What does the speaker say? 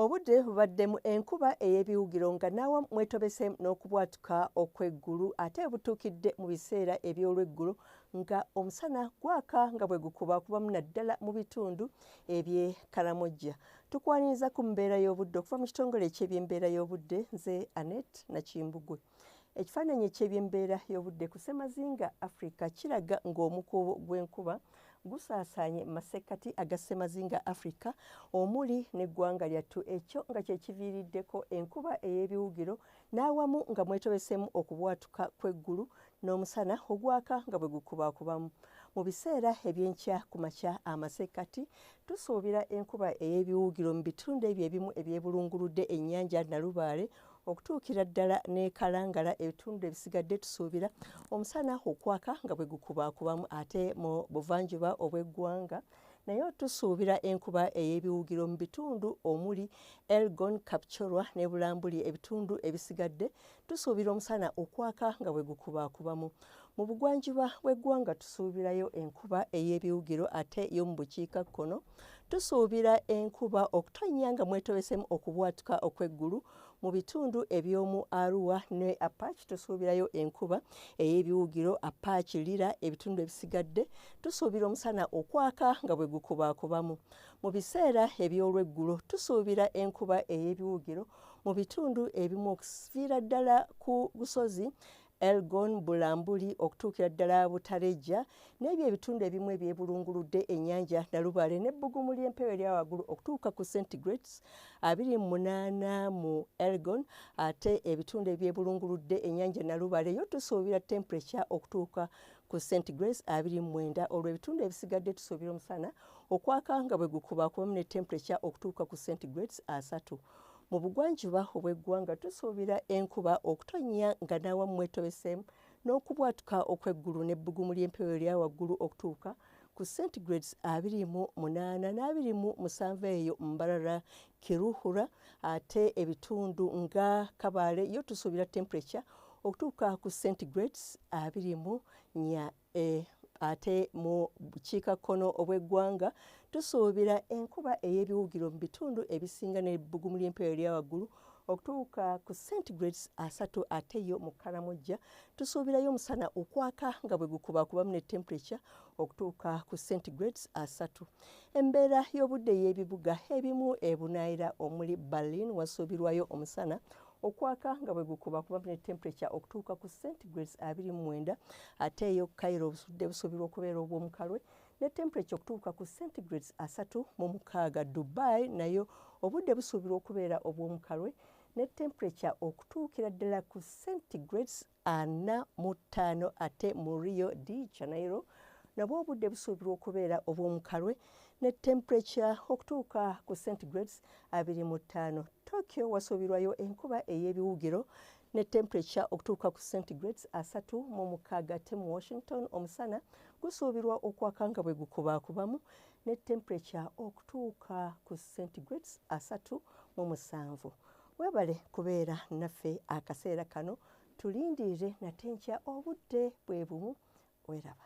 obudde bubaddemu enkuba ey'ebiwugiro nga naawa mwetobese n'okubwatuka okw'eggulu ate butuukidde mu biseera eby'olweggulo nga omusana gwaka nga bwe gukuba kubamu naddala mu bitundu eby'e karamojja tukwaniriza ku mbeera y'obudde okuva mu kitongole eky'ebyembeera y'obudde nze anet nakimbugwe Ekifaananyi eky'ebyembeera y'obudde ku ssemazinga Afrika kiraga ng'omukuubo gw'enkuba gusaasaanye mu masekkati aga ssemazinga Afrika omuli n'eggwanga lyattu ekyo nga kye kiviiriddeko enkuba ey'ebiwugiro n'awamu nga mwetobeseemu okubwatuka kw'eggulu n'omusana ogwaka nga bwe gukubakubamu. Mu biseera eby'enkya ku makya amasekkati tusuubira enkuba ey'ebiwugiro mu bitundu ebyo ebimu ebyebulunguludde ennyanja Nalubaale okutuukira ddala nekalangala ebitundu ebisigadde tusuubira omusana okwaka nga bwe gukubaakubamu ate mu buvanjuba obw'eggwanga naye tusuubira enkuba ey'ebiwugiro mu bitundu omuli elgon kapchorwa ne bulambuli ebitundu ebisigadde tusuubira omusana okwaka nga bwe gukubaakubamu Mu bugwanjuba bw'eggwanga tusuubirayo enkuba ey'ebiwugiro ate yo mu bukiika kkono tusuubira enkuba okutonnya nga mwetobesemu okubwatuka okw'eggulu mu bitundu eby'omu Arua ne Apache tusuubirayo enkuba ey'ebiwugiro Apache Lira ebitundu ebisigadde tusuubira omusana okwaka nga bwe gukubaakubamu mu biseera eby'olweggulo tusuubira enkuba ey'ebiwugiro mu bitundu ebimu okuviira ddala ku busozi Elgon, Bulambuli okutuukira ddala Butarejja n'ebyo ebitundu ebimu ebyebulunguludde ennyanja Nalubaale n'ebbugumu ly'empewo erya waggulu okutuuka ku centigrades abiri mu munaana mu Elgon ate ebitundu ebyebulunguludde ennyanja Nalubaale yo tusuubira temperature okutuuka ku centigrades abiri mu mwenda olwo ebitundu ebisigadde tusuubira omusana okwaka nga bwe gukuba kubamu ne temperature okutuuka ku centigrades asatu Mu bugwanjuba obw'eggwanga tusuubira enkuba okutonnya nga n'awammwe etobeseemu n'okubwatuka okw'eggulu n'ebbugumu ly'empewo erya waggulu okutuuka ku centigrades abiri mu munaana n'abiri mu musanvu eyo mbarara kiruhura ate ebitundu nga kabaale yo tusuubira temperature okutuuka ku centigrades abiri mu nya Eh, ate mu bukiikakkono obw'eggwanga tusuubira enkuba ey'ebiwugiro mu bitundu ebisinga n'ebbugumu ly'empewo erya waggulu okutuuka ku centigrades asatu ate yo mu kalamojja tusuubirayo omusana okwaka nga bwe gukubakubamu ne temperature okutuuka ku centigrades asatu embeera y'obudde y'ebibuga ebimu ebunaayira omuli berlin wasuubirwayo omusana okwaka nga bwe gukuba kuba ne temperature okutuuka ku centigrades abiri mu mwenda ate eyo kairo obusudde busuubirwa okubeera obw'omukalwe ne temperature okutuuka ku centigrades asatu mu mukaaga dubai nayo obudde busuubirwa okubeera obw'omukalwe ne temperature okutuukira ddala ku centigrades ana mu ttaano ate mu rio de janeiro nabwo obudde busuubirwa okubeera obw'omukalwe ne temperature okutuuka ku centigrades abiri mu ttaano tokyo wasuubirwayo enkuba ey'ebiwugiro ne temperature okutuuka ku centigrades asatu mu mukaaga ate mu washington omusana gusuubirwa okwaka nga bwe gukubakubamu ne temperature okutuuka ku centigrades asatu mu musanvu webale kubeera naffe akaseera kano tulindirire nate nkya obudde bwe bumu weraba